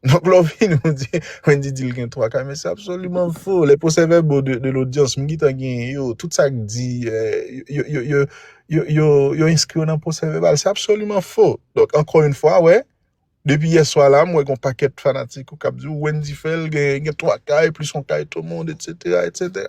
Donk lè w vini w di Wendy di l gen 3 kay men se absoliman fo. Les procès verbaux de, de l'audience m gentan genyen yo. Tout sa k di yo, yo, yo, yo, yo, yo enskri yo nan procès verbal. Se absoliman fo. Donk ankò yon fwa wè, depi yè swa la m wè gon pakèt fanatik ou k ap di w Wendy Phel gen, gen 3 kay plis yon kay Tomond etc etc.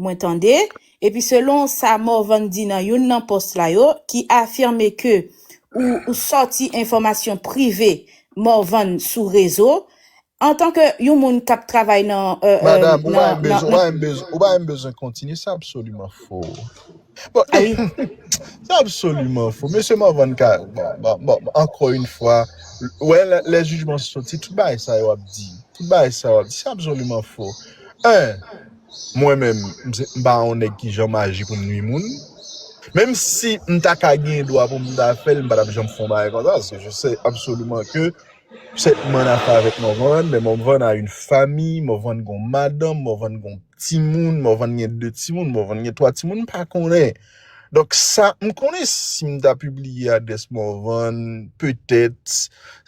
Mwen tande, epi selon sa Morvan di nan youn nan post la yo, ki afime ke ou ou sòti enfòmasyon prive Morvan sou rezo, antan ke yon moun k ap travay nan, Madam, ou pa menm bezwen, ou pa menm bezwen, ou pa menm bezwen kontinye, se absoliman fo. Bon, e, se absoliman fo. Mesye Morvan ka, bon, bon, ankò yon fwa, ou wè lè, lè jijman sòti, tout bagay sa yo ap di, tout bagay sa yo ap di, se absoliman fo. 1. Mwen menm, m pa yon nèg ki janm aji pou m nui moun. Menm si m ta ka gen dwa pou m ta fè l, m pa t ap janm fè yon bagay konsa paske je sais absolument que cette man a fait avec Morvan, men Morvan a une famille, Morvan gen yon madanm, Morvan gen yon timoun, Morvan gen 2 timoun, Morvan gen 3 timoun, m pa konnen. Donk sa, m konnen si m ta pibliye adrès Morvan, petèt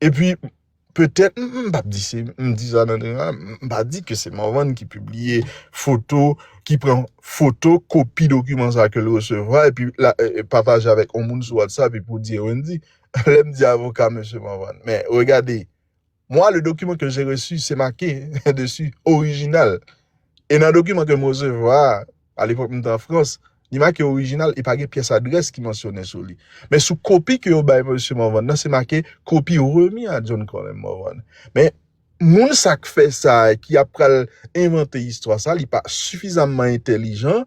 E pi, petèt, m pap di se, m di sa nan tren an, m pa di ke se Morvan ki pibliye foto, ki pran foto kopi dokiman sa ke l resevwa, e pi l pataje avèk yon moun sou WhatsApp, e pou di e Wendy. Lè m di avoka mesye Morvan, men regade, moi le document que j'ai reçu, se make dessus, original. E nan dokiman ke m resevwa a. a lepòk m te an Frans, li make orijinal e pa gen pyès adrès ki mansyone sou li. Men sou kopi ke yo bay Mesye Morvan nan, se make kopi remi a John Colem Morvan. Men, moun sa k fè sa a, ki ap pral envante istwa sa a, li pa sifizamman entelijan,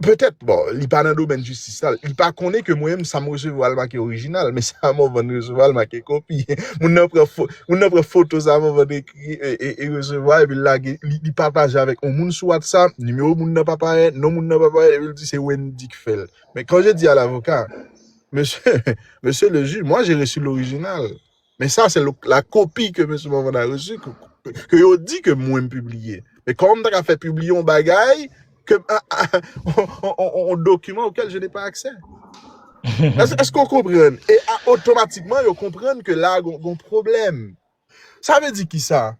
petèt, bon, li pa nan domèn jistis la, li pa konnen ke mwen menm sa m resevwa li make orijinal, men sa Morvan resevwa li make kopi. Moun nan pran foto sa Morvan te. e resevwa epi l lage li pataje avèk yon moun sou whatsapp nimewo moun nan pa parèt non moun nan pa parèt epi l di se Wendy ki fè l men quand je dis à l'avocat monsieur monsieur le juge moi j'ai reçu l'original mais ça c'est la copie que monsieur Morvan a reçu que yo di que mwen m pibliye men kòman m ta ka fè pibliye yon bagay ke m yon dokiman okel je n'ai pas accès èske w konprann e otomatikman yo konprann ke la gon pwoblèm Sa vle di kisa?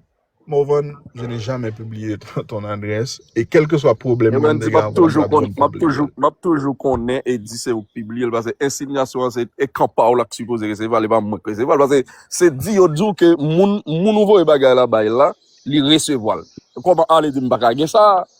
Morvan je n'ai jamais publié ton adresse et kelkeswa pwoblèm Ewen di map toujou konn map toujou map toujou konnen e di se ou k pibliye l pase ensinyasyon an se e kan pa w la k sipoze resevwa l e pa mwen k resevwa l pase se di yo di w ke moun moun ou voye bagay la bay la li resevwa l kòman ale di m pa ka gen sa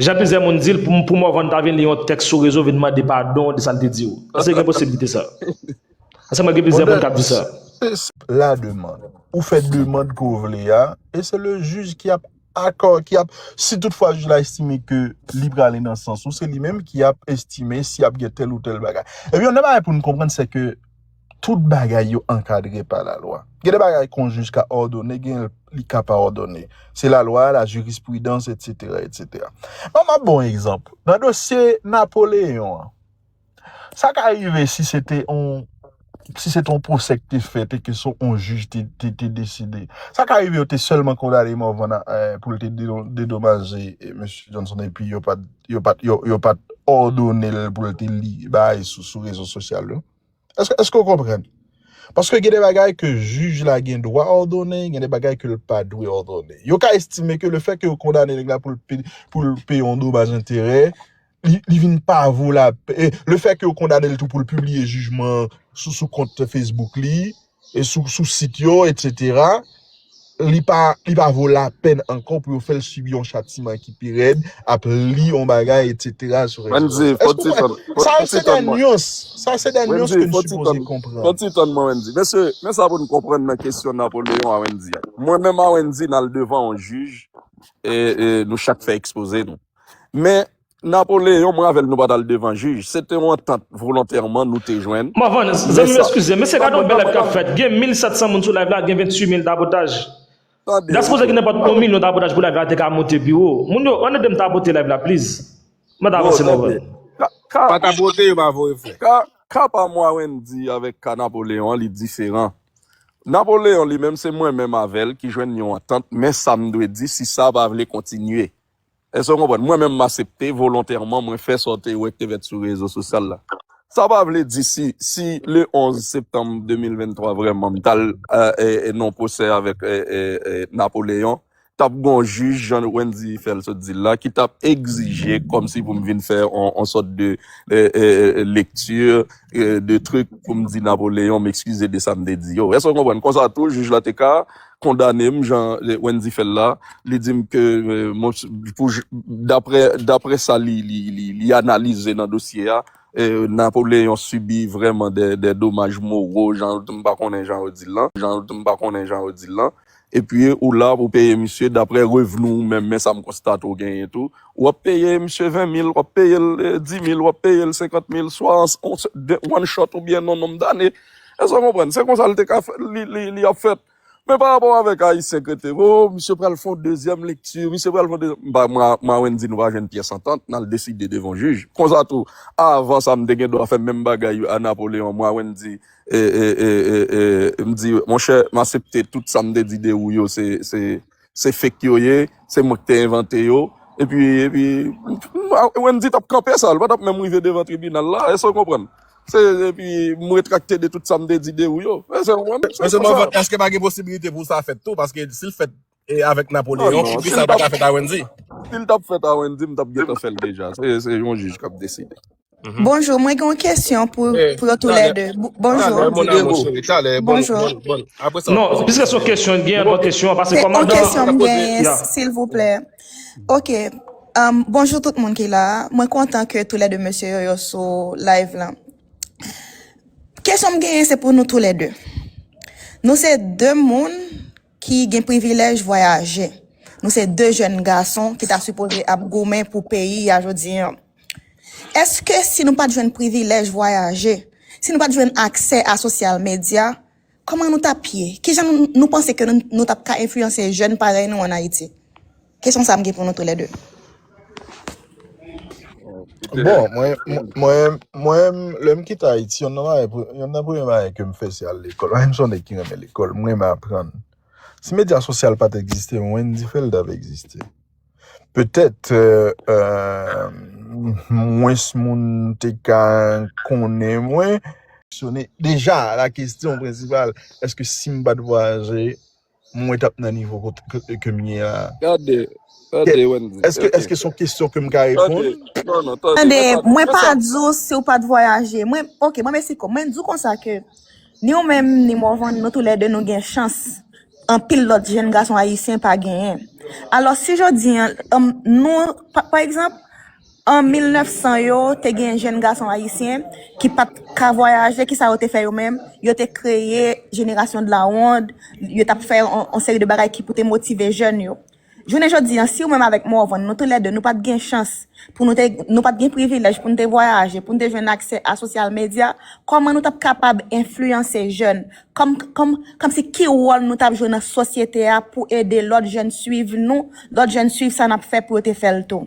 Jan plizyè moun di l, pou Morvan ta vin li yon tèks sou rezo vin mande padon de sa l te di w. Èske gen posiblite sa? Paske mwen gen plizyè moun k ap di sa. Se senp la demand. Ou fè demand ke w vle a, e se le jij ki ap akò, ki ap, si tout fwa jij la estime ke li prale nan sans ou, se li menm ki ap estime si ap gen tèl ou tèl bagay. Epi yon nan bagay pou n konprann se ke Tout bagay yo ankadre pa lalwa. Gen de bagay ke yon jij ka òdone, gen li ka pa òdone. Se lalwa, la jirispridans, etsetera, etsetera. Bon, m ap ba w yon egzanp. Nan dosye Napoleyon an, sa ka rive si se te yon, si se te yon pwosè ki te fèt e ke se yon jij te, te deside. Sa ka rive yo te sèlman kondane Morvan a, pou l te dedomaje Mesye Johnson epi yo pa t, yo pa t, yo pa t òdone l pou l te li bagay sou rezo sosyal yo. Èske èske ou konprann? Paske gen de bagay ke jij la gen dwa òdone, gen de bagay ke l pa dwe òdone. Yo ka estime ke lefèt ke yo kondane nèg la pou l pe pou l peye yon domaj enterè, li li vin pa vo lapè, lefèt ke yo kondane l tou pou l pibliye jijman an sou sou kont Facebook li, sou sit yo etc li pa li pa vo la pèn ankò pou yo fèl sibi yon chatiman ki pi rèd ap li yon bagay etc sou rezo Wendy yo fon ti tann sa yo se de nuans sa yo se de nuans ke nou sipoze konprann fon ti tann mwen Wendy mesye men sa pou nou konprann nan kesyon Napoléon a Wendy a mwen menm a Wendy nal devan yon jij e nou chak fè ekspoze nou men Napoleon mwen avèl nou pa tal devan jij se te yon antant volontèman nou te jwenn Mwen vann men zanmi yo sa eskize men se gade yon bèl live kap fèt gen 1700 moun sou live la gen 28 mil tapotaj tande Gaspose gen nenpòt yon milyon tapotaj pou live la te ka moute pi wo moun yo an edem tapote live la please mwen ta non avanse mwen tande vann. ka ka Pa tapote yo pa voye frè. ka ka pa mwa Wendy avèk ka Napoleon an li diferan Napoleon li menm se mwen menm avèl ki jwenn yon antant men sam dwe di si sa pa vle kontinye Èske w konprann? Mwen menm m asepte volontèman mwen fè sa w te wè k te fèt sou rezo sosyal la. Sa pa vle di si, si le 11 septanm 2023 vrèman m t al nan pwosè avèk Napoléon, t ap gen yon jij jan Wendy fè l sot di l la ki t ap egzije kòmsi pou m vin fè yon sòt de lekti de trik pou m di Napoléon m ekskize de sa m te di yo. Èske w konprann? Konsa tou jij la te ka kondane m jan Wendy fè l la, li di m ke daprè sa li analize nan dosye a, Napoléon sibi vrèman dè domaj moro jan m pa konnen jan yo di l lan, jan m pa konnen jan yo di l lan, epi ou la pou peye misye daprè revni w menm, men sa m konstate w genyen tou, w ap peye misye 20 mil, w ap peye l 10 mil, w ap peye l 50 mil, swa an one shot oubyen nan nonm dane. Èske w konprann? Se konsa l te ka fè, li ap fèt. Men pa rapò avèk Ayisyen kreten, o, misye pral fè yon dezyèm lekti, misye pral fè yon dezyèm, m pa, Mawend di nou pa jwenn pyès antant, n al deside devan jij. Konsa tou, avan sa m te gen dwa fè menm bagay a Napoleon, Mawend di, e, e, e, e, e, m di, monchè, m asepte tout sa m te di de ou yo se, se. Se fake yo ye, se mwen ki te envante yo, epi, epi, Wendy t ap kanpe sa, l pa t ap menm rive devan tribinal la, èske w konprann? Se, epi, m retrakte de tout sa m te di de ou yo. Èske w konprann? Mesye Morvan, èske pa gen posibilite pou sa fèt tou? Paske si l fèt avèk Napoléon, pou ki sa l pa ka fèt a Wendy? Si l t ap fèt a Wendy, m t ap gentan fè l deja. Se yon jij k ap deside. Bonjou mwen gen yon kesyon pou yo tou lè 2 bonjou talè mon amour chéri talè bonjou non piske son kesyon gen yon kesyon pase koman dan kesyon mwen genyen silvouplè ok bonjou tout moun ki la mwen kontan ke tou lè 2 mesye yo yo sou live lan kesyon mwen genyen se pou nou tou lè 2 nou se 2 moun ki gen privilèj vwayaje. Nou se 2 jèn gason ki ta sipoze ap goumen pou peyi a jodi an. Eske si nou pat jwenn privilèj vwayaje, si nou pat jwenn aksè a sosyal medya, kòman nou tap ye? Kijan nou panse ke nou tap ka enfliyanse jèn parèy nou an Ayiti? Kesyon sa m gen pou nou tou lè 2. Bon, mwen, mwen, mwen, lè m kite Ayiti, yon nan bagay, yon nan premye bagay ke m fè se al lekòl. Paske m son nèg ki renmen lekòl, m renmen aprann. Si medya sosyal pa t egziste, Wendy Felda pa egziste. Petèt, mwens moun te ka konnen mwen. Deja, la kesyon prensipal, èske si m pa t vwayaje, Mwen tap nan nivo kot ke kem ye a. Gade, Kè, tande Wendy, èske, ok. èske son kesyon ke m ka Tande, reponn? non, non, tande, Tande, mwen pa di, mwen mwen pa sa, di w si w pa t vwayaje. Mwen, ok, mwen Mexico. Mwen di w konsa ke ni w menm, ni Morvan, nou tou lè 2 nou gen chans anpil lòt jenn gason ayisyen pa genyen. Alòs, si jodi an, um, nou, pa, pa egzanp, An 1900 yo, te gen jenn gason ayisyen ki pa t ka vwayaje, kisa yo te fè yo menm? Yo te kreye Génération de la Ronde, yo t ap fè yon seri de bagay ki pou te motive jèn yo. Jounen jodi an, si ou menm avèk Morvan, nou tou lè de, nou pa t gen chans, pou nou te, nou pa t gen privilèj pou nou te vwayaje, pou nou te jwenn aksè a sosyal medya, kòman nou t ap kapab enfliyanse jèn? Kòm, kòm, kòmsi ki wòl nou t ap jwe nan sosyete a pou ede lòt jèn suiv nou, lòt jèn suiv sa n ap fè pou yo te fè l tou?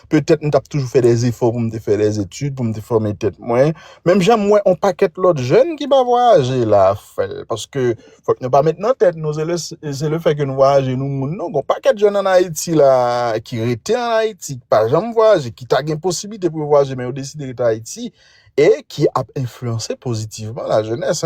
petèt m t ap toujou fè dèzefò pou m te fè dèzetid, pou m te fòme tèt mwen. Menm jan m wè on pakèt lòt jèn ki pa vwayaje la ap fè l. Paske, fòk nou pa met nan tèt nou, se le fè ke nou vwayaje nou moun non. Gon pakèt jèn ann Ayiti la ki rete ann Ayiti, ki pa janm vwayaje, ki ta gen posiblite pou yo vwayaje men yo deside rete Ayiti e ki ap enfliyanse pozitivman lajenès.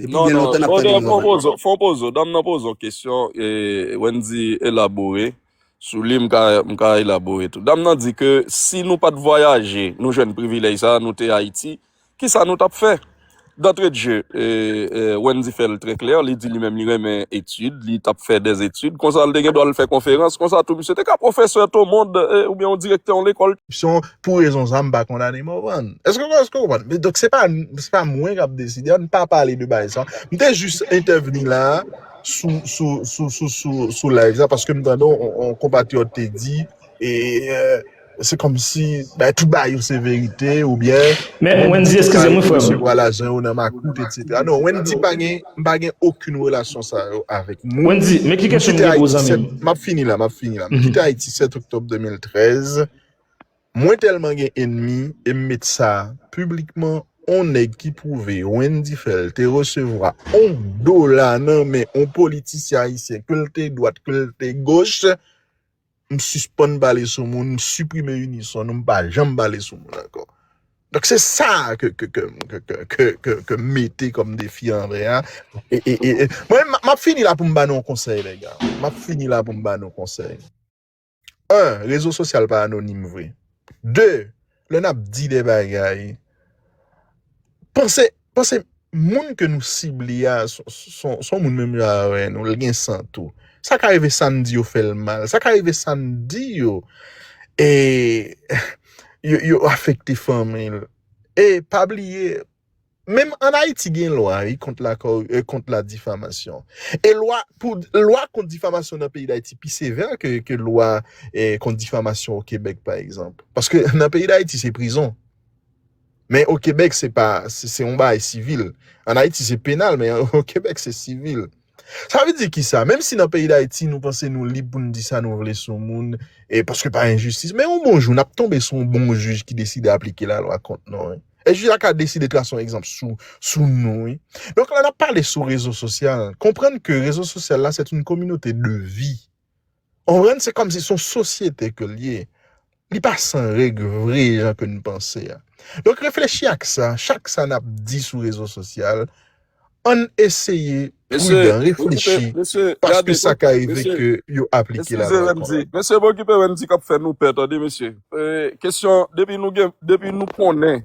Depi byen lontan nap tande Love Afrik. Fon pozo, dam nan poze yon kesyon e Wendy elabore sou li m ka elabore tou. Dam nan di ke si nou pat vwayaje nou jwenn privilèj sa nou te Ayiti, kisa nou tap fè? Dantre de je Wendy fè l trè klè, li di li menm li renmen etid, li tap fè dè etid, konsa li te gen dwa al fè konferans, konsa tou misye te ka pwofesè to mond oubyen yon direktè yon lekòl. Pou rezon sa m pa kondane Morvan. Eske ou konprann? Donk se pa mwen k ap deside, an n pa pale de bagay sa. M te jis entèvni la sou live sa paske m tande yon konpatriyòt te di e se kòmsi bagay tout bagay yo se verite oubyen Wendy se pa yo ki resevwa lajan yo nan makout etsetera. Non, Wendy pa gen, m pa gen okenn relasyon sa yo avèk mwen. Wendy, men ki kesyon m gen pou w zanmi m. M ap fini la, m ap fini la. M kite Ayiti 7 oktòb 2013. Mwen telman gen enmi e m met sa piblikman on nèg ki pwouve Wendy Phel te resevwa on dola nan men on politisyen ayisyen ke l te dwat ke l te goch m sispann pale sou moun m siprime Unison nou m pa janm pale sou moun ankò donk se sa ke m mete kòm defi anvè a e map fini la pou m ba nou on konsèy les gars map fini la pou m ba nou konsèy. 1 rezo sosyal pa anonim vre 2 lè nap di de bagay panse panse moun ke nou sible a son moun menm jan avè nou li gen san tou sa ka rive sa n di yo fè l mal sa ka rive sa n di yo e yo afekte fanmi l e pa bliye Menm an Ayiti gen lwa wi kont la kor e kont la difamasyon. E lwa pou lwa kont difamasyon nan peyi Dayiti pi sevè ke ke lwa e kont difamasyon o Kebèk pa egzanp. Paske nan peyi Dayiti se prizon. Men o Kebèk se pa se se yon bagay sivil. An Ayiti se penal men o Kebèk se sivil. Sa vle di kisa? Menm si nan peyi Dayiti nou panse nou lib pou n di sa nou vle sou moun e paske pa enjistis, men yon bon jou n ap tonbe sou yon bon jij ki deside aplike lalwa kont nou wi. E jij la ka deside trase yon egzanp sou nou wi. Donk lè n ap pale sou rezo sosyal, konprann ke rezo sosyal la sèt yn kominote de vi. Ou konprann? Se kòmsi son sosyete ke l ye. Li pa san règ vre jan ke n panse a. Donk reflechi ak sa, chak sa n ap di sou rezo sosyal, ann eseye Mesye, pridan, okipe, reflechi, mesye, paske gade, sa ka rive mesye, ke yo aplike la eskize lwa lè m di, konsa. mesye m okipe wè m di k ap fè nou pè tande mesye. E, kesyon, depi nou gen, depi nou konnen.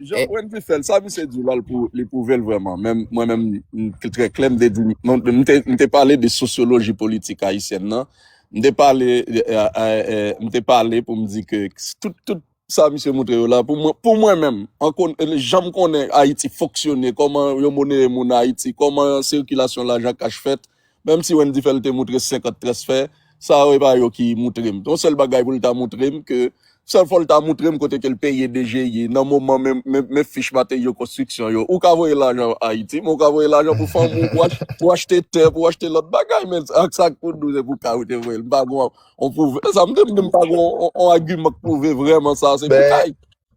Jan Eh, Wendy fèl, sa misye di la li pou li prouvel vreman. Menm mwen menm m trè klè m te di non, m te m te pale de sosyoloji politik ayisyèn nan. M te pale eh, eh, eh, m te pale pou m di ke tout tout sa misye montre yo la pou mwen pou mwen menm an kon jan m konnen Ayiti fonksyone, koman yo moneye moun Ayiti, koman sikilasyon lajan kach fèt. Menm si Wendy fè l te moutre 50 transfè, sa yo e pa yo ki moutre m. Yon sèl bagay pou l ta moutre m ke sèl fò l ta moutre m kote ke l peye DGI nan moman men men fich materyau konstriksyon yo. Ou ka voye lajan Ayiti men ou ka voye lajan pou fanmi w pou achte tè pou achte lòt bagay men ak sa pou dous e pou kay ou te voye l. M pa gen yon pwouv. E sa m di m di m pa gen yon agiman k pwouve vrèman sa se pou kay.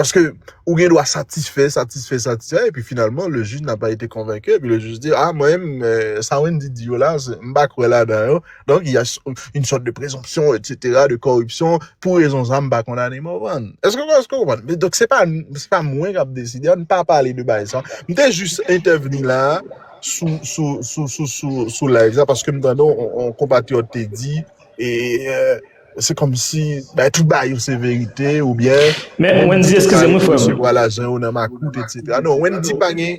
Paske ou gen dwa satisfè, satisfè, satisfè, epi finalman le jij n'a pas été convaincu, epi le jij di, ah mwen menm, sa Wendy di yo la, m pa kwè ladan yo, donk y a une sorte de présomption, etc, de corruption, pou rezon sa m pa kondane Morvan. Èske ou konprann? Donk se pa, se pa mwen k ap deside, an n pa pale de bagay sa. M te jis entèvni la a, sou, sou, sou, sou, sou, sou live sa, paske m tande yon konpatriyòt te di, e, Se kòmsi bay tout bagay yo se verite oubyen Wendy te ka resevwa lajan yo nan makout etc. Non Wendy pa gen.